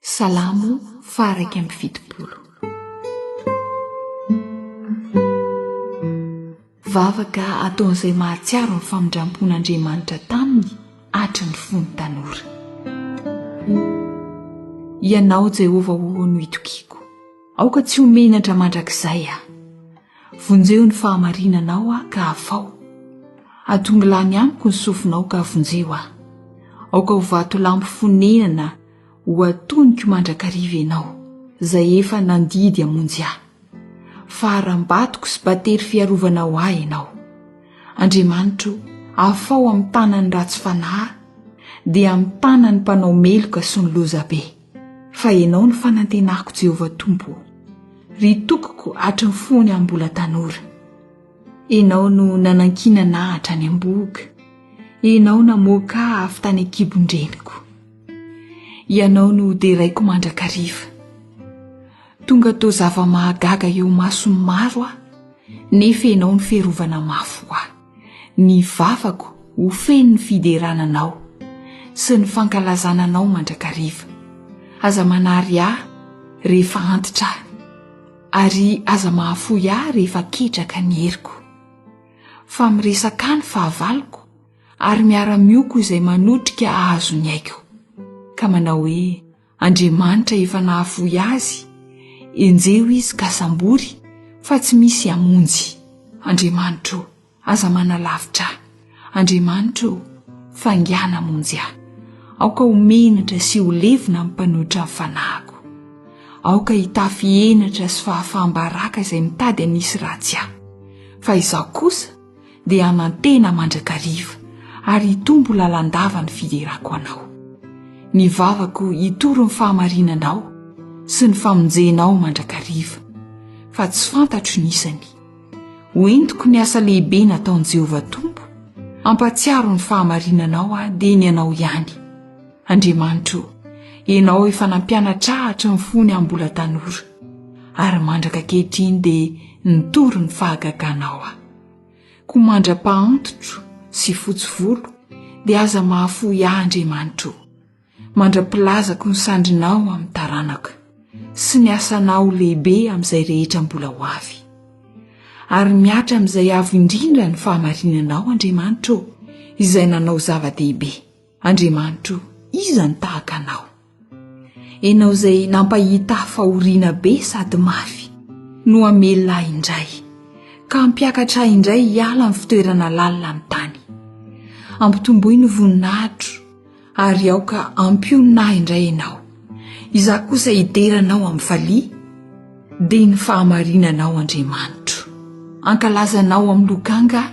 Salamo faha iraika amby fitopolo. Vavaka ataon'izay mahatsiaro ny famindrampon'Andriamanitra taminy atra ny fony tanora. Ianao Jehovah o no itokiako, aoka tsy ho menatra mandrakizay aho. Vonjeo ny fahamarinanao aho ka afaho, atongo lany amiko ny sofinao ka vonjeo aho. Aoka ho vatolampy fonenana ho atoniko mandrakariva ianao, izay efa nandidy hamonjy ahy. Faharam-batoko sy battery fiarovana ho ahy ianao. Andriamanitro o, afaho amin'ny tanan'ny ratsy fanahy, dia amin'ny tanan'ny mpanao meloka sy ny lozabe. Fa Ianao no fanantenako Jéhovah Tompo o, ry Tokoko hatry ny fony aho mbola tanora. Ianao no nanankinana ahy hatrany am-bohoka, Ianao namoaka ahy avy tany an-kibon-dreniko. Ianao no deraiko mandrakariva. Tonga toa zava-mahagaga eo mason'ny maro aho, nefa Ianao no fiarovana mafy ho ahy. Ny vavako ho feno ny fiderana Anao sy ny fankalazana Anao mandrakariva. Aza manary ahy rehefa antitra aho, ary aza mahafoy ahy rehefa ketraka ny heriko. Fa miresaka ahy ny fahavaloko, ary miara-mioko izay manotrika hahazo ny aiko, ka manao hoe, Andriamanitra efa nahafoy azy, enjeho izy ka sambory fa tsy misy hamonjy. Andriamanitra o, aza manalavitra ahy. Andriamanitra o, faingàna hamonjy ahy. Aoka ho menatra sy ho levona ny mpanohitra ny fanahiko. Aoka hitafy henatra sy fahafaham-baraka izay mitady hanisy ratsy ahy. Fa izaho kosa, dia hanantena mandrakariva ary hitombo lalandava ny fiderako Anao. Ny vavako hitory ny fahamarinanao sy ny famonjenao mandrakariva, fa tsy fantatro ny isany. Ho entiko ny asa lehibe nataon'i Jehovah Tompo, hampatsiaro ny fahamarinanao aho dia ny Anao ihany. Andriamanitro o, Ianao efa nampianatra ahy hatry ny fony aho mbola tanora, ary mandraka ankehitriny dia nitory ny fahagaganao aho. Koa mandra-pahantitro sy fotsy volo dia aza mahafoy ahy Andriamanitro o, mandra-pilazako ny sandrinao amin'ny taranako, sy ny asanao lehibe amin'izay rehetra mbola ho avy. Ary mihatra amin'izay avo indrindra ny fahamarinanao Andriamanitro o, izay nanao zava-dehibe. Andriamanitro o, iza no tahaka Anao? Ianao izay nampahita ahy fahoriana be sady mafy no hamelona ahy indray ka hampiakatra ahy indray hiala amin'ny fitoerana lalina amin'ny tany. Ampitomboy ny voninahitro ary aoka hampionona ahy indray Ianao. Izaho kosa hidera Anao amin'ny valiha dia ny fahamarinanao Andriamanitro. Ankalaza Anao amin'ny lokanga,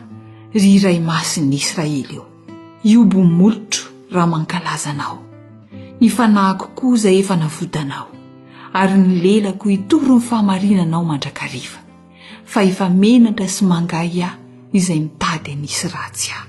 ry Iray Masin'ny Israely o. Hiobo molotro raha mankalaza anao. Ny fanahiko koza efa navodanao, ary ny lelako hitory ny fahamarinanao mandrakariva. Fa efa menatra sy mangahy ahy izay mitady hanisy ratsy ahy.